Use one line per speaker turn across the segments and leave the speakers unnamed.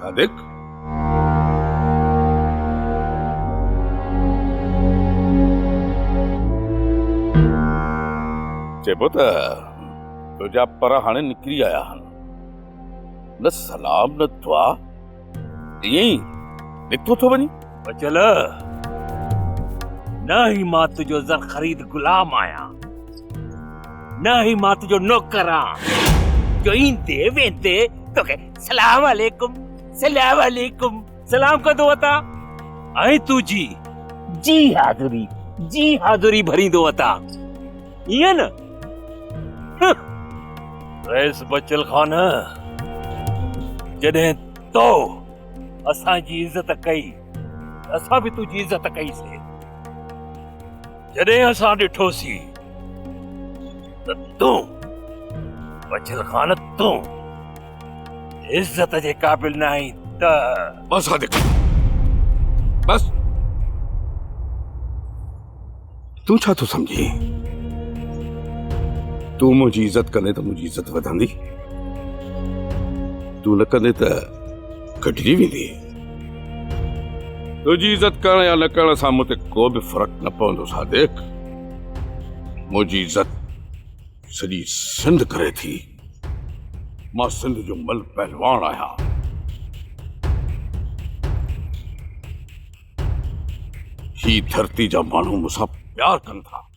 صادق! چئبو ته تنهنجا پر هاڻي نڪري آيا آهن. نه سلام نه دعا، ائين ئي نڪتو ٿو وڃين؟ بچل!
نه ئي مان تنهنجو زر خريد غلام آهيان، نه ئي مان تنهنجو نوڪر آهيان، جو ايندي ويندي توکي سلام عليڪم سلام عليڪم سلام ڪندو اتا ۽ تو جي جي حاضري جي حاضري ڀريندو اتا ائين نه رئيس بچل خان جڏهن تو اسان جي عزت ڪئي اسان به تنهنجي عزت ڪئي سي جڏهن اسان ڏٺوسين ته تون بچل خان تون عزت جي قابل نه آهين ته بس صادق
بس تون ڇا ٿو سمجھين تون منهنجي عزت ڪندين ته منهنجي عزت وڌندي تون نه ڪندين ته ڪڍجي ويندي. تنهنجي عزت ڪرڻ يا نه ڪرڻ سان مون تي ڪو به فرق نه پوندو صادق. منهنجي عزت سڄي سنڌ ڪري ٿي. مان سنڌ جو ملهه پهلوان آهيان. هي ڌرتي جا ماڻهو مون سان پيار ڪن ٿا.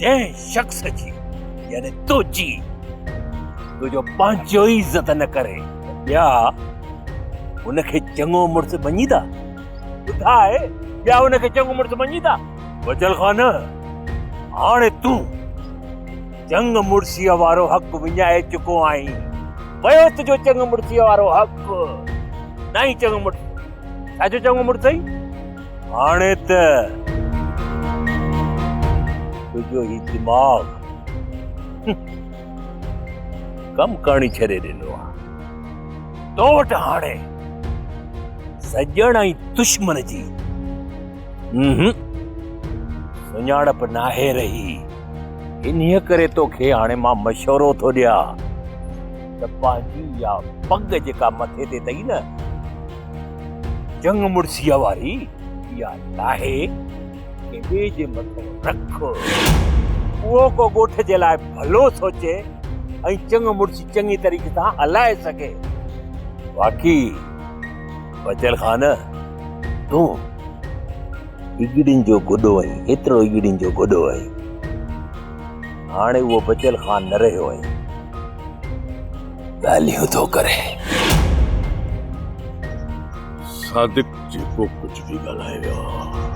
جنهن شخص جي يعني تنهنجي تنهنجو پنهنجو ئي عزت نه ڪري ٻيا ان کي چڱو مڙس مڃيندا ٻڌاء ٻيا ان کي چڱو مڙس مڃيندا وجل خان هاڻي تون چنگ مڙسيء وارو حق وڃائي چڪو آهين ويو تنهنجو چنگ مڙسيء وارو حق نه ئي چڱو مڙس ڇا جو چڱو مڙس اٿئي هاڻي ته تنهنجو هي دماغ ڪم ڪرڻي ڇڏي ڏنو آ تو وٽ هاڻي سڄڻ ۽ دشمن جي سڃاڻپ ناهي رهي انهيء ڪري توکي هاڻي مان مشورو ٿو ڏيان ته پنهنجي يا پڳ جيڪا مٿي تي اٿئي نه جنگ مڙسيء واري اها ناهي ڪنهن ٻئي جي مٿو رک. اهو ڪو ڳوٺ جي لاء ڀلو سوچي ۽ چڱ مڙسي چڱي طريقي سان هلائي سگهي. باقي بچل خان تون هيجڙين جو گڏو آهين، هيترو هيجڙين جو گڏو آهين. هاڻي اهو بچيل خان نه رهيو آهي. ڳالهيون ٿو ڪري.
صادق جيڪو ڪجهه به ڳالهايو آهي.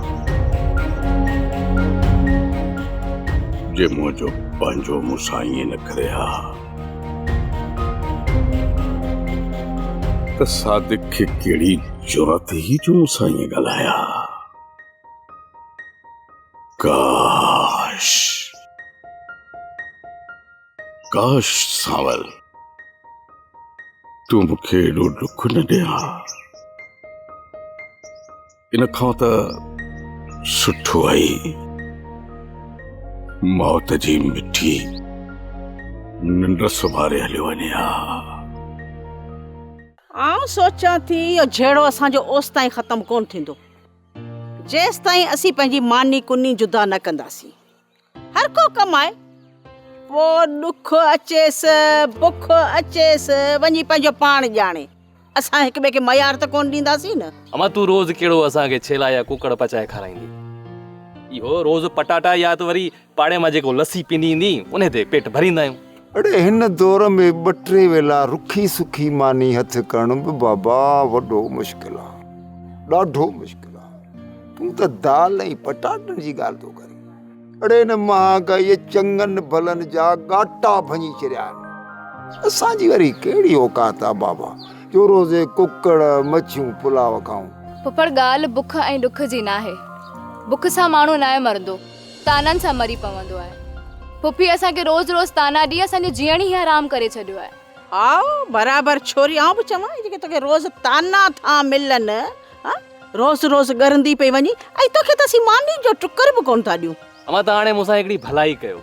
جي منهنجو پنهنجو مون سان ائين نه ڪري ها ته صادق کي ڪهڙي جرئت هئي جو مون سان ائين ڳالهايا ها. ڪاش ڪاش سانول تون مون کي ايڏو ڏک نه ڏي ها ان کان ته سٺو آهي موت جي مٺي ننڊ سمهاري هليو وڃي ها
آئون سوچيان ٿي اهو جهيڙو اسان جو اوستائين ختم ڪونه ٿيندو جيستائين اسين پنهنجي ماني ڪني جدا نه ڪنداسين. هر ڪو ڪمائي. پوء ڏک اچيس، بک اچيس، وڃي پنهنجو پاڻ ڄاڻي. اسان هڪ ٻئي کي ميار ته ڪونه ڏينداسين
نه. امان تون روز
ڪهڙو
اسان کي ڇيلا
يا
ڪوڪڙ پچائي
کارائيندين.
اهو روز پٽاٽا يا ته وري پاڙي مان جيڪو لسي پيندي ايندي انهي تي پيٽ ڀريندا آهيون. اڙي هن دور
۾ ٻه ٽي ويلا رکي سکي ماني هٿ ڪرڻ به بابا وڏو مشڪل آ ڏاڍو مشڪل آ تون ته دال ۽ پٽاٽن جي ڳالهه ٿو ڪرين اڙي هن مهانگائيء چڱن ڀلن جا ڳاٽا ڀڃي ڇڏيا آهن اسان جي وري ڪهڙي اوقات آ بابا جو روزي ڪڪڙ مڇيون پلاء کائون. ڦڦڙ ڳالهه
بک ۽ ڏک جي ناهي بک سان ماڻهو ناهي مرندو. طعنن سان مري پوندو آهي. پڦي اسان کي روز روز طعنا ڏئي اسان جو جيئڻ ئي حرام ڪري ڇڏيو آهي. هائو، برابر
ڇوري آئون به چوان اهي جيڪي توکي روز طعنا ٿا ملن ها روز روز ڳرندي پئي وڃين ۽ توکي ته اسين ماني جو ٽڪر به ڪونه ٿا ڏيون. اوهان ته هاڻي مون سان
هڪڙي ڀلائي ڪيو.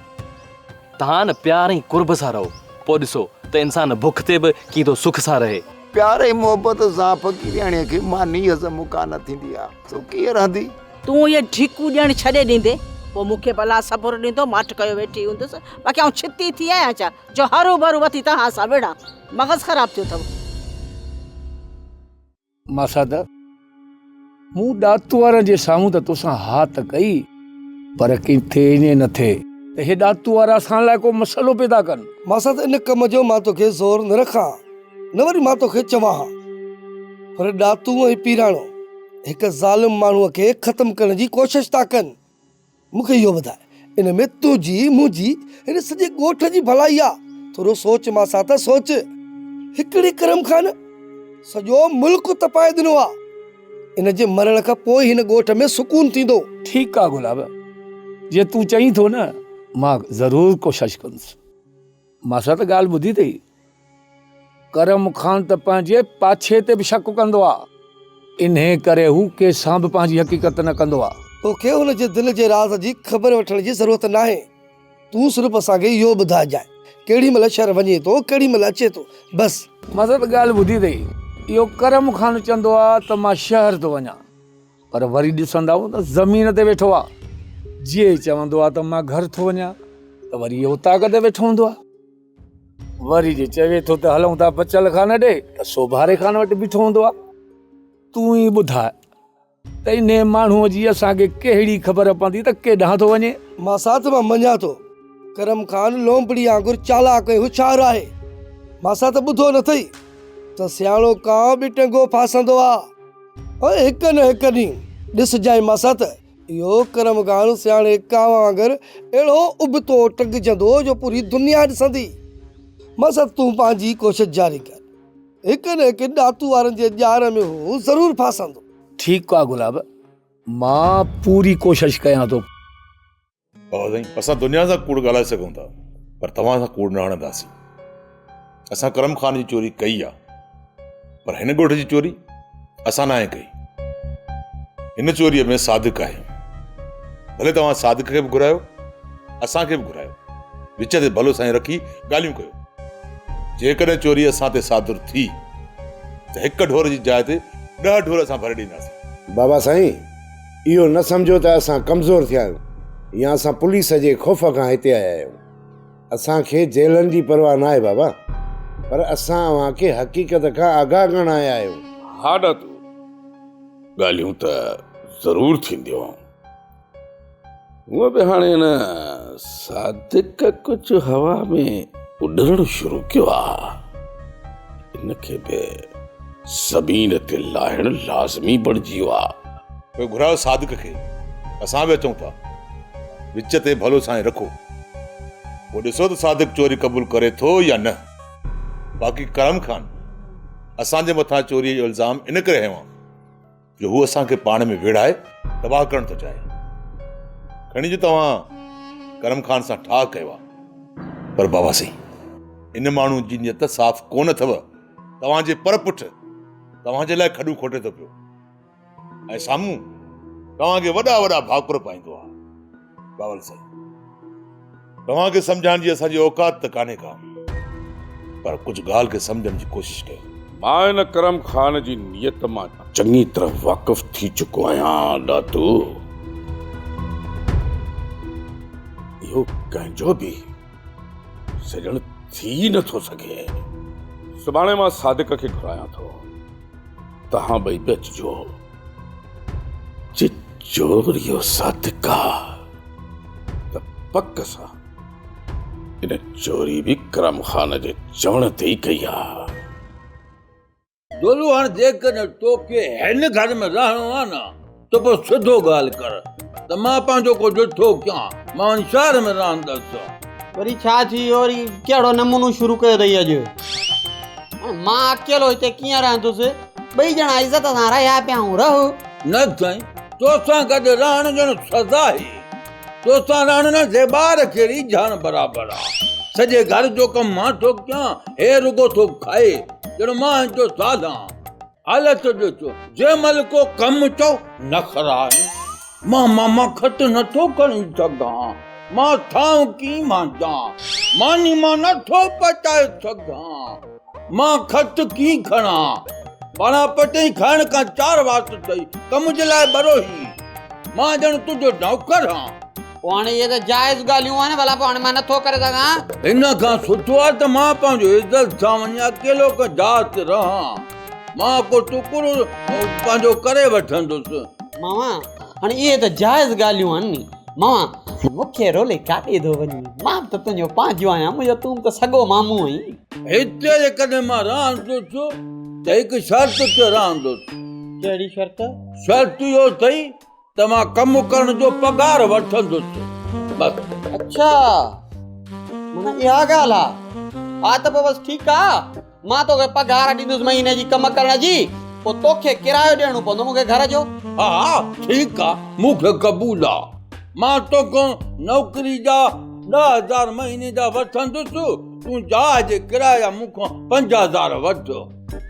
طعن پيار ۽ قرب سان رهو پوء ڏسو ته انسان بک تي به ڪيئن ٿو سک سان رهي. پيار ۽ محبت
سان فقيرياڻيء کي ماني هضم ڪانه ٿيندي آهي سو ڪيئن رهندي؟ تون اهي ڍيڪون
ڏيڻ ڇڏي ڏيندين، پوء مون کي به الله صبر ڏيندو، ماٺ ڪيو ويٺي هوندس، باقي آئون ڇتي ٿي آهيان ڇا، جو هروڀرو وٿي توهان سان وڙهان، مغز خراب ٿيو اٿئو.
ماسات، مون ڏات وارن جي سامهون ته توسان ها ته ڪئي، پر ڪين ٿئي ائين نه ٿئي ته اهي ڏات وارا اسان لاء ڪو مسئلو پيدا ڪن. ماسات، ان ڪم
جو مان توکي زور نه رکان. نه وري مان توکي چوان ها. پر ڏاتو ۽ پيراڻو هڪ ظالم ماڻهوء کي ختم ڪرڻ جي ڪوشش ٿا ڪن. مون کي اهو ٻڌاء، ان ۾ تنهنجي، منهنجي، هن سڄي ڳوٺ جي ڀلائي آ؟ ٿورو سوچ مان سان ته سوچ. هڪڙي ڪرم کان نه سڄو ملڪ تپائي ڏنو آ. ان جي مرڻ کان پوء ئي هن ڳوٺ ۾ سڪون ٿيندو. ٺيڪ آ گلاب،
جيئن تون چئين ٿو نه، مان ضرور ڪوشش ڪندس. مان سان ته ڳالهه ٻڌي اٿئي. ڪرم خان ته پنهنجي پاڇي تي به شڪ ڪندو آ، انهيء ڪري هو ڪنهن سان به پنهنجي حقيقت نه ڪندو آ. تو کي هن جي دل
جي راز جي خبر وٺڻ جي ضرورت ناهي. تون صرف اسان کي اهو ٻڌائجانء، ڪهڙي مهل شهر وڃي ٿو، ڪهڙي مهل اچي ٿو، بس. مزت ڳالهه ٻڌي اٿئي،
اهو ڪرم خان چوندو آ ته مان شهر ٿو وڃان، پر وري ڏسندائون ته زمين تي ويٺو آ. جي چوندو آ ته مان گهر ٿو وڃان، ته وري اهو طاق تي ويٺو هوندو آ. وري جي چوي ٿو ته هلون ٿا بچل خان ڏي ته سوڀاري خان وٽ بيٺو هوندو آ تون ئي ٻڌاء ته انهي ماڻهوء جي اسان کي ڪهڙي خبر پوندي ته ڪيڏانهن ٿو وڃي؟ مان ساٿ مان مڃان
ٿو. ڪرم خان لونپڙي آنگر چالاڪ ۽ هوشيار آهي. ماسان ته ٻڌو نه اٿئي ته سياڻو ڪانء به ٽنگو ڦاسندو آ ۽ هڪ نه هڪ ڏينهن ڏسجانء ماسان ته اهو ڪرم ڪانه سياڻي ڪانء وانگر اهڙو ابتو ٽنگجندو جو پوري دنيا ڏسندي. مست تون پنهنجي ڪوشش جاري ڪر. هڪ نه هڪ ڏاتو وارن جي ڄار ۾ هو ضرور ڦاسندو. ٺيڪ آ گلاب
مان پوري ڪوشش ڪيان ٿو. بابا
سائين اسان دنيا سان ڪوڙ ڳالهائي سگهون ٿا پر توهان سان ڪوڙ نه هڻنداسين اسان ڪرم خان جي چوري ڪئي آ پر هن ڳوٺ جي چوري اسان ناهي ڪئي هن چوريء ۾ صادق آهي ڀلي توهان صادق کي به گهرايو اسانکي به گهرايو وچ تي ڀلو سائين رکي ڳالهيون ڪيو جيڪڏهن چوري اسان تي صادر ٿي ته هڪ ڍور جي جاء تي ڏهه ڍور اسان ڀري ڏينداسين بابا سائين
اهو نه سمجهو ته اسان ڪمزور ٿيا آهيون يا اسان پوليس جي خوف کان هتي آيا آهيون. اسان کي جيلن جي پرواهه ناهي بابا، پر اسان اوهان کي حقيقت کان آگاهه ڪرڻ آيا آهيون. ها دادو،
ڳالهيون ته ضرور ٿينديون. هونء به هاڻي هن صادق ڪجهه هوا ۾ اڏرڻ شروع ڪيو آهي. هن کي به زمين تي لاهڻ لازمي بڻجي ويو آهي. پوء گهرايو صادق کي. اسان به اچون ٿا. وچ تي ڀلو سائين رکو. پوء ڏسو ته صادق چوري قبول ڪري ٿو يا نه. باقي ڪرم خان، اسان جي مٿان چوريء جو الزام ان ڪري هنيو آهي. جو هو اسان کي پاڻ ۾ ويڙهائي تباهه ڪرڻ ٿو چاهي. کڻي جو توهان ڪرم خان سان ٺاهه ڪيو آهي. پر بابا سائين، ان ماڻهو جي نيت صاف ڪو نه اٿئو. توهان جي پر پٺ توهان جي لاء کڏون کوٽي ٿو پيو ۽ سامهون توهان کي وڏا وڏا ڀاڪر پائيندو آهي. باول سائين توهان کي سمجهائڻ جي اسان جي اوقات ته ڪانهي ڪا پر ڪجهه ڳالهه کي سمجهڻ جي ڪوشش ڪيو. مان هن ڪرم خان جي نيت مان چڱي طرح واقف ٿي چڪو آهيان ڏاتو. اهو ڪنهن جو به سڄڻ ٿي ئي نه ٿو سگهي. سڀاڻي مان صادق کي گهرايان ٿو. توهان ٻئي به اچجو. جي چور اهو صادق آ ته پڪ سان ان چوري به ڪرم خان جي چوڻ تي ئي ڪئي آ. دولو
هاڻ جيڪڏهن توکي هن گهر ۾ رهڻو آهي نه ته پوء سڌو ڳالهه ڪر ته مان پنهنجو ڪو ڏٺو ڪيان، مان هن شهر ۾ رهندس. وري ڇا
ٿي ويو، وري ڪهڙو نمونو شروع ڪيو اٿئي اڄ. هاڻ مان اڪيلو هتي ڪيئن رهندس، ٻئي ڄڻا عزت سان رهيا پيا آهيون، رهه. نه سائين،
توسان گڏ رهڻ ڄڻ سزا هي. توسان رهڻ نه زيبار ڪهڙي جهڻ برابر آ سڄي گهر جو ڪم مان ٿو ڪيان هي رڳو ٿو کائي ڄڻ مان هن جو زال آن حالت ڏسو جنهن مهل ڪو ڪم چئو نخرا آهن مان ماما کٽ نه ٿو کڻي سگهان مان ٿانء ڪيئن مانجان ماني مان نه ٿو پچائي سگهان. مان کٽ ڪيئن کڻان؟ پاڻان پٽي کائڻ کان چار وات ٿئي، ڪم جي لاء ٻرو هي. مان ڄڻ تنهنجو نوڪر هان. پوء هاڻي اهي ته
جائز ڳالهيون آهن، ڀلا پوء هاڻي مان نٿو ڪري سگهان. ان کان سٺو
آهي ته مان پنهنجو عزت سان وڃي اڪيلو ڪنهن جاء تي رهان. مان ڪو ٽڪرو پنهنجو ڪري وٺندس. ماما،
هاڻي اهي ته جائز ڳالهيون آهن ني. ماما، مون کي رولي ڪاڏي ٿو وڃين؟ مان به ته تنهنجو پنهنجو آهيان، منهنجو تون به ته سڳو مامو آهين. هتي جيڪڏهن
مان رهندو ٿيو ته هڪ شرط تي رهندو ٿيو. ڪهڙي شرط؟
شرط اهو
اٿئي ته مان ڪم ڪرڻ جو پگهار وٺندو ٿيو. بس. اڇا
معنيٰ اها ڳالهه آ. ها ته پوء بس ٺيڪ آ. مان توکي پگهار ڏيندس مهيني جي ڪم ڪرڻ جي. پوء توکي ڪرايو ڏيڻو پوندو مون کي گهر جو. ها
ٺيڪ آ مون کي قبول آ. مان توکان نوڪري جا ڏهه هزار مهيني جا وٺندس. تون جاء جي ڪرايا مون کان پنج هزار وٺ.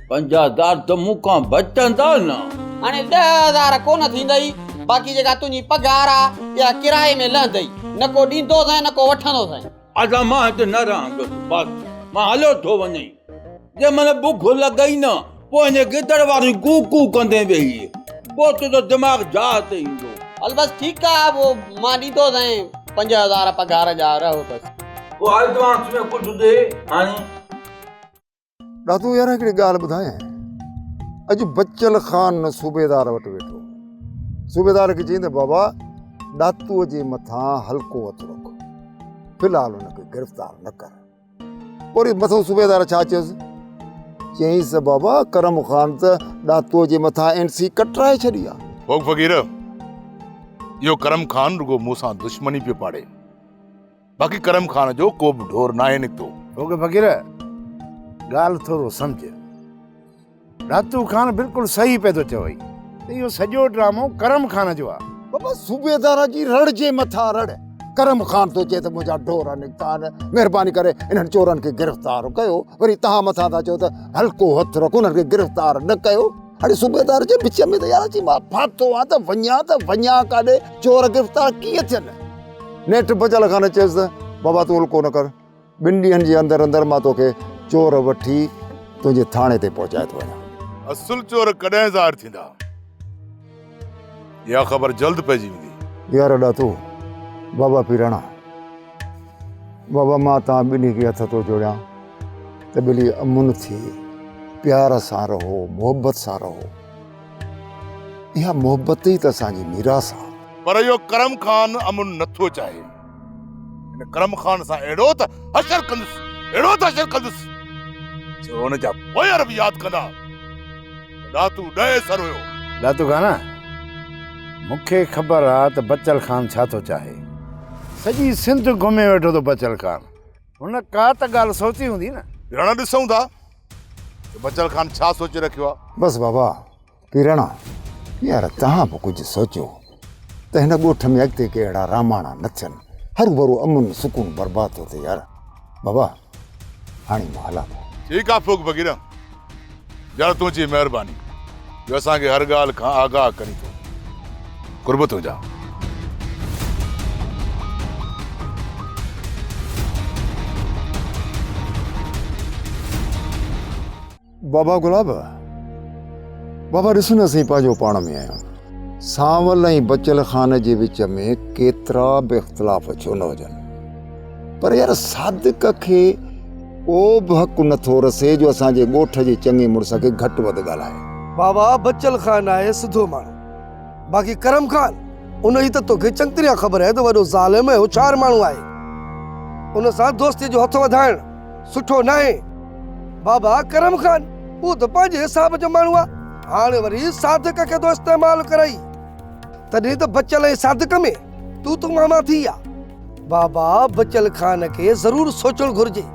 پنج هزار ته مون کان بچندا نه. هاڻي ڏهه هزار
ڪونه ٿيندئي، باقي جيڪا تنهنجي پگهار آ، اها ڪرائي ۾ لهندئي. نه ڪو ڏيندوسين نه ڪو وٺندوسين. ادا مان هت نه
رهندس، بس مان هليو ٿو وڃين. جنهن مهل بک لڳئي نه. پوء هن گدڙ واري ڪو ڪو ڪندي ويهي پوء تنهنجو دماغ جاء تي ايندو. هل بس ٺيڪ
آ پوء مان ڏيندوسانء پنج هزار پگهار جا رهو بس. پوء ايڊوانس
۾ ڪجهه ڏي هاڻي.
ڏاتو يار هڪڙي ڳالهه ٻڌايانء اڄ بچل خان صوبيدار وٽ ويٺو صوبيدار کي چيائين ته بابا ڏاتو جي مٿان هلڪو هٿ رک في الحال هن کي گرفتار نه ڪر. وري مٿئون صوبيدار ڇا چيس؟ چيائينس بابا ڪرم خان ته ڏاتوء جي مٿان اين سي ڪٽرائي ڇڏي آ. ڀوڳ فقير،
اهو ڪرم خان رڳو مون سان دشمني پيو پاڙي. باقي ڪرم خان جو ڪوبه ڍور ناهي نڪتو. ڀوڳ فقير،
ڳالهه ٿورو سمجهه. راتو خان بلڪل صحيح پئي ٿو چوئي ته اهو سڄو ڊرامو ڪرم خان جو آ. بابا صوبيدار
جي رڙ جي مٿان رڙ. ڪرم خان ٿو چئي ته منهنجا ڍور نڪتا آهن مهرباني ڪري انهن چورن کي گرفتار ڪيو وري تهان مٿان ٿا چئو ته هلڪو هٿ رک انهن کي گرفتار نه ڪيو هاڻي صوبيدار جي وچ ۾ ته يار اچي مان ڦاٿو آهيان ته وڃان ته وڃان ڪاڏي چور گرفتار ڪيئن ٿين نيٺ بچل خان چيس ته بابا تون هلڪو نه ڪر ٻن ڏينهن جي اندر اندر مان توکي چور وٺي تنهنجي ٿاڻي تي پهچائي ٿو وڃان. اصل چور
ڪڏهن ظاهر ٿيندا؟ اها خبر جلد پئجي ويندي. يار اڏا تو
بابا پيراڻا بابا مان توهان ٻنهي کي هٿ ٿو جوڙيان ته ٻلي امن ٿي پيار سان رهو محبت سان رهو اها محبت ئي ته اسان جي ميراث آ. پر اهو ڪرم
خان امن نٿو چاهي. هن ڪرم خان سان اهڙو ته حشر ڪندس اهڙو ته حشر ڪندس جو هن جا پوئر به ياد ڪندا ڏاتو ڏهي سر هيو ڏاتو خان
مون کي خبر آ ته بچل خان ڇا ٿو چاهي سڄي سنڌ گهمي ويٺو ته بچل خان هن ڪا ته ڳالهه سوچي هوندي نه هاڻ ڏسون ٿا
ته بچل خان ڇا سوچي رکيو آ بس بابا
پيرڻا، يار توهان به ڪجهه سوچو ته هن ڳوٺ ۾ اڳتي ڪي اهڙا راماڻا نه ٿين، هروڀرو امن سڪون برباد ٿو ٿئي يار. بابا، هاڻي مان هلان ٿو. ٺيڪ آ ڦوڪ ڀڳيڙا،
يار تنهنجي مهرباني جو اسان کي هر ڳالهه کان آگاهه ڪرين ٿو. قرب تنهنجا.
بابا گلاب بابا ڏس نه سين پنهنجو پاڻ ۾ آهيان سانول ۽ بچل خان جي وچ ۾ ڪيترا به اختلاف ڇو نه هجن پر يار صادق کي ڪو به حق نٿو رسي جو اسان جي ڳوٺ جي چڱي مڙس کي گهٽ وڌ ڳالهائي بابا
بچل
خان
آهي سڌو ماڻهو باقي ڪرم خان ان جي ته توکي چڱي طرح خبر آهي ته وڏو ظالم ۽ هوشيار ماڻهو آهي ان سان دوستي جو هٿ وڌائڻ سٺو ناهي. بابا ڪرم خان، هو ته پنهنجي حساب جو ماڻهو آ، هاڻ وري صادق کي ٿو استعمال ڪرئي. تڏهن ته بچل ۽ صادق ۾ تون تون مان مان ٿي آ. بابا بچل خان کي ضرور سوچڻ گهرجي.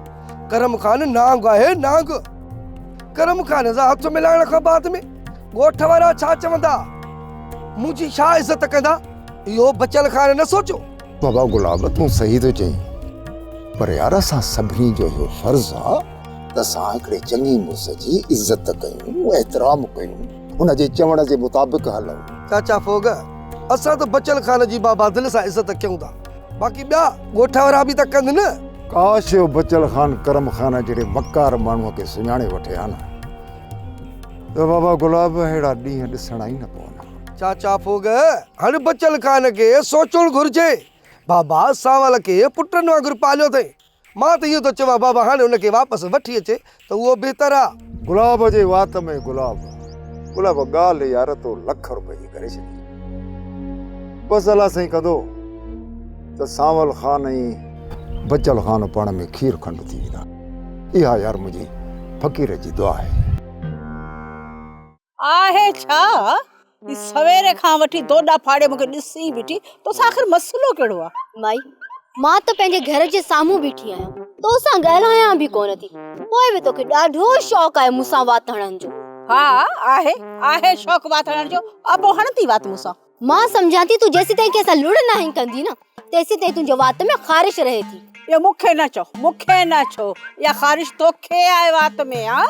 ڪرم خان نانگ آهي نانگ. ڪرم خان سان هٿ ملائڻ کان بعد ۾ ڳوٺ وارا ڇا چوندا؟ منهنجي ڇا عزت ڪندا؟ اهو بچل خان نه سوچيو. بابا گلاب
تون صحيح ٿو چئين پر يار اسان سڀني جو اهو فرض آ ته اسان هڪڙي چڱي مڙس جي عزت ڪيون احترام ڪيون ان جي چوڻ جي مطابق هلون. چاچا ڦوڳ
اسان ته بچل خان جي بابا دل سان عزت ڪيون ٿا باقي ٻيا ڳوٺ وارا به ته ڪن نه. ڪاش اهو بچل
خان ڪرم خان جهڙي وقار ماڻهو کي سڃاڻي وٺي ها نه ته بابا گلاب اهڙا ڏينهن ڏسڻا ئي نه پون ها. چاچا ڦوڳ،
هن بچل خان کي سوچڻ گهرجي. بابا سانول کي پٽن وانگر پاليو اٿئي. مان ته اهو ٿو چوان بابا هاڻي هن کي واپس وٺي اچي ته اهو بهتر آ. گلاب جي وات
۾ گلاب. گلاب ڳالهه يار تو لک روپين جي ڪري ڇڏي. بس الله سائين ڪندو ته سانول خان ۽ بچل خان پاڻ ۾ کير کنڊ ٿي ويندا. اها يار منهنجي فقير جي دعا آهي.
آهي ڇا هي سوير کان وٺي دوڏا ڦاڙي مونکي ڏسي بيٺي توسان آخر مسئلو ڪهڙو آهي مائي مان
ته پنهنجي گهر جي سامهون بيٺي آهيان توسان ڳالهايان به ڪونه ٿي پوء به توکي ڏاڍو شوق آهي مونسان وات هڻڻ جو ها آهي
آهي شوق وات هڻڻ جو آ پوء هڻ ٿي وات مونسان مان سمجهان ٿي تون
جيسيتائين ڪنهن سان لڙ ناهين ڪندي نه تيسيتائين تنهنجي وات ۾ خارش رهي ٿي. اهو مون کي نه چئو،
مون کي نه ڇو، اها خارش تو کي آهي وات ۾ ها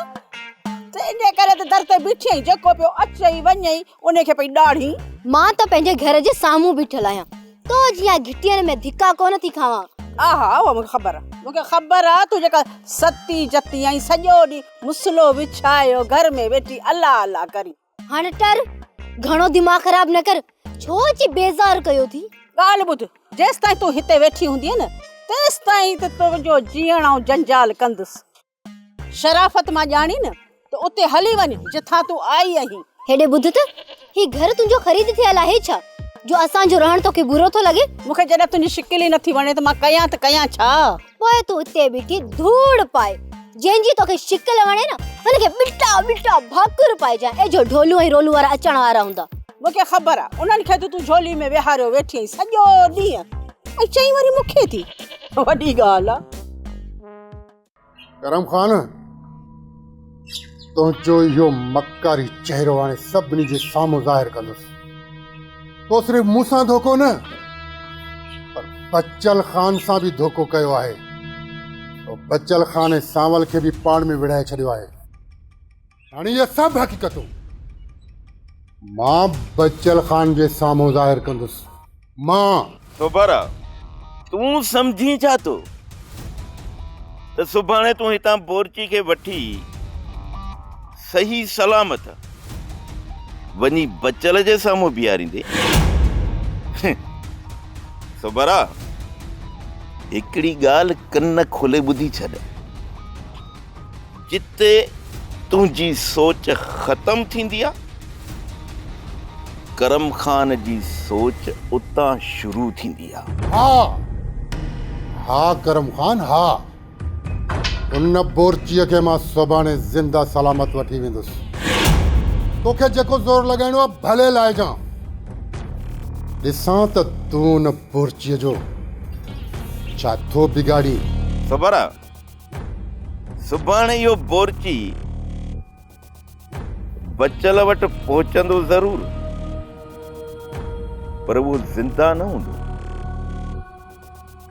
ته ان ڪري ته در تي بيٺي آهين، جيڪو پيو اچئي وڃئي ان کي پئي ڏاڙهين. مان ته پنهنجي
گهر جي سامهون بيٺل آهيان، تو جيان گهٽين ۾ ڌڪا ڪونه ٿي کاوان. ها ها اهو مون کي
خبر آهي، مون کي خبر آهي تون جيڪا ستي جتي آهين، سڄو ڏينهن مسلو وڇايو گهر ۾ ويٺي الله الله ڪرين. هاڻ ٽر
گهڻو دماغ خراب نه ڪر ڇو اچي بيزار ڪيو ٿي. ڳالهه ٻڌ
جيستائين تون هتي ويٺي هوندينء نه تيستائين ته تنهنجو جيئڻ آئون جنجال ڪندس. شرافت مان ڄاڻين نه ته اتي هلي وڃ جتان تون آئي آهين. هيڏي ٻڌ ته
هي گهر تنهنجو خريد ٿيل آهي ڇا جو اسان جو رهڻ توکي برو ٿو لڳي. مون کي جڏهن تنهنجي شڪل
ئي نٿي وڻي ته مان ڪيان ته ڪيان ڇا. پوء تون اتي
بيٺي ڌوڙ پاء، جنهن جي توکي شڪل وڻي نه، هن کي ٻٽا ٻٽا ڀاڪر پائجانء، اي جو ڍولون ۽ رولون وارا اچڻ وارا هوندا. مون کي خبر آ،
انهن کي ته تون جهولي ۾ ويهاريو ويٺي آهين سڄو ڏينهن، ۽ چئين وري مون کي ٿي، وڏي ڳالهه آ.
ڪرم خان! تنهنجو اهو مڪاري چهرو هاڻي سڀني جي سامهون ظاهر ڪندس. تو صرف مون سان ڌوڪو نه پر بچل خان سان به ڌوڪو ڪيو آهي. تو بچل خان ۽ سانول کي به پاڻ ۾ ويڙهائي ڇڏيو آهي. هاڻي اهي سڀ حقيقتون مان بچل خان جي سامهون ظاهر ڪندس. مان. سوڀارا،
تون سمجهين ڇا ٿو ته سڀاڻي تون هتان بورچي کي وٺي صحيح سلامت وڃي بچل جي سامهون بيهاريندين؟ سوڀارا، هڪڙي ڳالهه ڪن کولي ٻڌي ڇڏ. جتي تنهنجي سوچ ختم ٿيندي آ، ڪرم خان جي سوچ اتان شروع ٿيندي آ. ها
ها ڪرم خان ها. ان بورچيء کي مان سڀاڻي زنده سلامت وٺي ويندس. توکي جيڪو زور لڳائڻو آ ڀلي لائجان. ڏسان ته تون ان بورچيء جو ڇا ٿو بگاڙين. صبر آ.
سڀاڻي اهو بورچي بچل وٽ پهچندو ضرور پر اهو زنده نه هوندو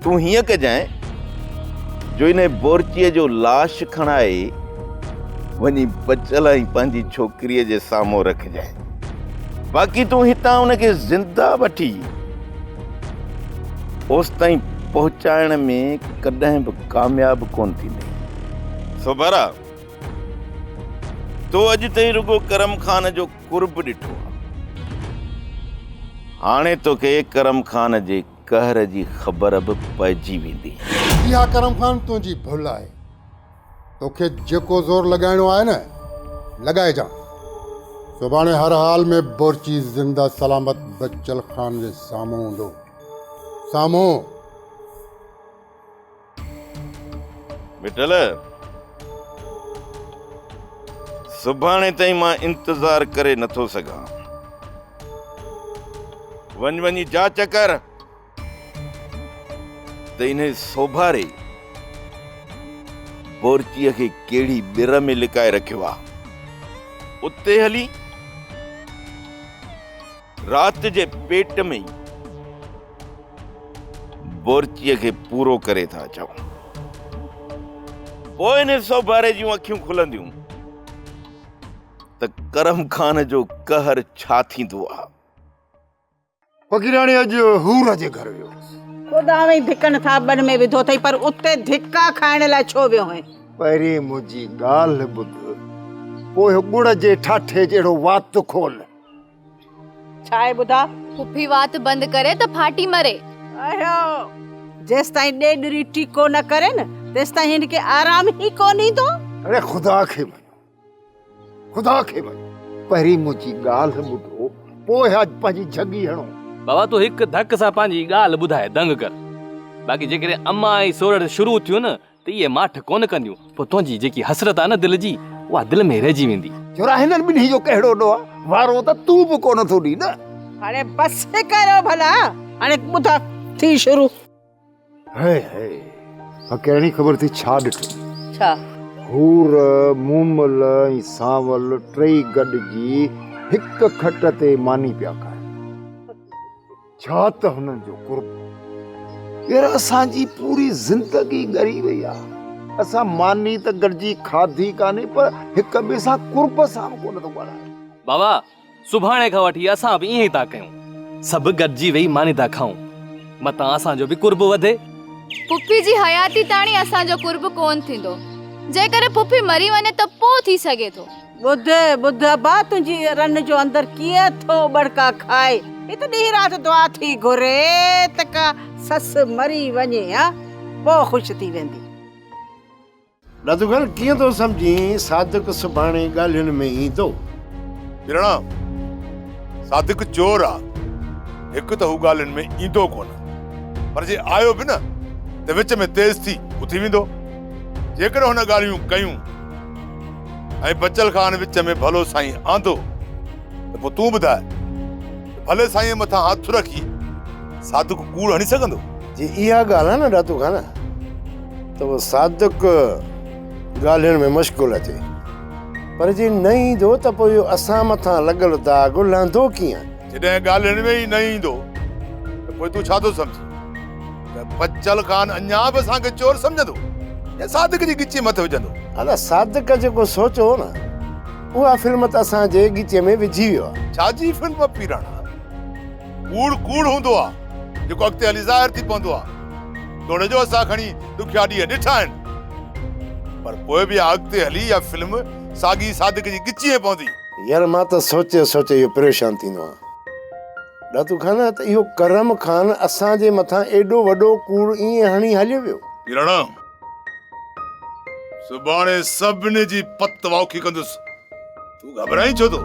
تون هيئن ڪجانء جو ان بورچيء جو لاش کڻائي وڃي بچل ۽ پنهنجي ڇوڪريء جي سامهون رکجانء باقي تون هتان ان کي زنده وٺي اوستائين پهچائڻ ۾ ڪڏهن به ڪامياب ڪونه ٿيندين. سوڀارا! تو اڄ تائين رڳو ڪرم خان جو قرب ڏٺو آ. هاڻي توکي ڪرم خان جي قهر جي خبر به پئجي ويندي. اها ڪرم خان
تنهنجي ڀل آهي. توکي جيڪو زور لڳائڻو آهي نه، لڳائجان. سڀاڻي هر حال ۾ بورچي زنده سلامت بچل خان جي سامهون هوندو. سامهون!
مٺل سڀاڻي تائين مان انتظار ڪري نٿو سگهان وڃ وڃي جاچ ڪر ته ان سوڀاري بورچي کي ڪهڙي بر ۾ لڪائي رکيو آ اتي هلي رات جي پيٽ ۾ ئي بورچيء کي پورو ڪري ٿا اچون. پوء ان سوڀاري جون اکيون کلنديون ته ڪرم خان جو قهر ڇا ٿيندو آ. فقيراڻي
اڄ حور جي گهر ويو هوس. خدا اوهين
ڌڪن ٿاٻن ۾ وڌو اٿئي پر اتي ڌڪا کائڻ لاء ڇو ويو هئين؟ پهرين منهنجي
ڳالهه ٻڌ پوء ڳڙ جي ٺاٺي جهڙو وات کول.
ڇا آهي ٻڌاء. پڦي وات بند
ڪري ته ڦاٽي مري. اهو
جيستائين ڏيڏري ٽيڪو نه ڪرين تيستائين هن کي آرام ئي ڪونه ايندو. اڙي خدا کي
مڃ خدا کي مڃ. پهرين منهنجي ڳالهه ٻڌو پوء اڄ پنهنجي جهڳي هڻو. بابا تون هڪ
ڌڪ سان پنهنجي ڳالهه ٻڌائي دنگ ڪر. باقي جيڪڏهن امان ۽ سورڙ شروع ٿيون نه ته اهي ماٺ ڪونه ڪنديون، پوء تنهنجي جيڪي حسرت آهي نه دل جي، اها دل ۾ ئي رهجي ويندي. ڇوره هنن ٻنهي جو
ڪهڙو ڏوهه آهي، وارو ته تون به ڪونه ٿو ڏين نه. هاڻي بس
ڪريو ڀلا، هاڻي ٻڌ ٿي شروع. هاء
هاء، مان ڪهڙي خبر ٿي ڇا ڏٺو. ڇا؟
حور،
مومل ۽ سانول ٽئي گڏجي هڪ کٽ تي ماني پيا کائن. ڇا ته هنن جو قرب يار اسان جي پوري زندگي ڳري وئي آ اسان ماني ته گڏجي کاڌي ڪانهي پر هڪ ٻئي سان قرب سان به ڪونه ٿو ڳالهايو. بابا
سڀاڻي کان وٺي اسان به ائين ئي ٿا ڪيون سڀ گڏجي ويهي ماني ٿا کائون متان اسان جو به قرب وڌي. پڦي جي
حياتي تاڻي اسان جو قرب ڪونه ٿيندو جيڪڏهن پڦي مري وڃي ته پوء ٿي سگهي ٿو. ٻڌ، ٻڌ
ابا تنهنجي رن جو اندر ڪيئن ٿو ٻڙڪا کائي. هي ته ڏينهن رات دعا ٿي گهري ته ڪا سس مري وڃي ها پوء خوش ٿي ويندي. ڏڌوگل
ڪيئن ٿو سمجهين صادق سڀاڻي ڳالهين ۾ ايندو. ٻرڙا،
صادق چور آ، هڪ ته هو ڳالهين ۾ ايندو ڪونه پر جي آيو به نه ته وچ ۾ تيز ٿي اٿي ويندو. جيڪڏهن هن ڳالهيون ڪيون. ۽ بچل خان وچ ۾ ڀلو سائين آندو ته پوء تون ٻڌاء ته ڀلي سائينء مٿان هٿ رکي صادق ڪوڙ هڻي سگهندو؟ جي اها ڳالهه
آهي نه داتو خان ته پوء صادق ڳالهين ۾ مشغول اچي پر جي نه ايندو ته پوء اهو اسان مٿان لڳل داغ لهندو ڪيئن؟ جڏهن ڳالهين ۾
ئي نه ايندو ته پوء تون ڇا ٿو سمجهين؟ بچل خان اڃا به اسان کي چور سمجهندو يا صادق جي ڳچيء مٿي وجهندو؟ ادا صادق
جيڪو سوچيو هو نه اها فلم ته اسان جي ڳچيء ۾ وجهي ويو آهي. ڇا جي فلم پيراڻا؟
ڪوڙ ڪوڙ هوندو آهي جيڪو اڳتي هلي ظاهر ٿي پوندو آهي. توڙي جو اسان کڻي ڏکيا ڏينهن ڏٺا آهن پر پوء به اها اڳتي هلي اها فلم ساڳي صادق جي ڳچيء ۾ پوندي. يار مان ته
سوچي سوچي اهو پريشان ٿيندو آهيان. ڏاتو خان ته اهو ڪرم خان اسان جي مٿان ايڏو وڏو ڪوڙ ائين هڻي هليو ويو. ڪراڻا
سڀاڻي سڀني جي پت واکي ڪندس تون گهٻرائين ڇو ٿو.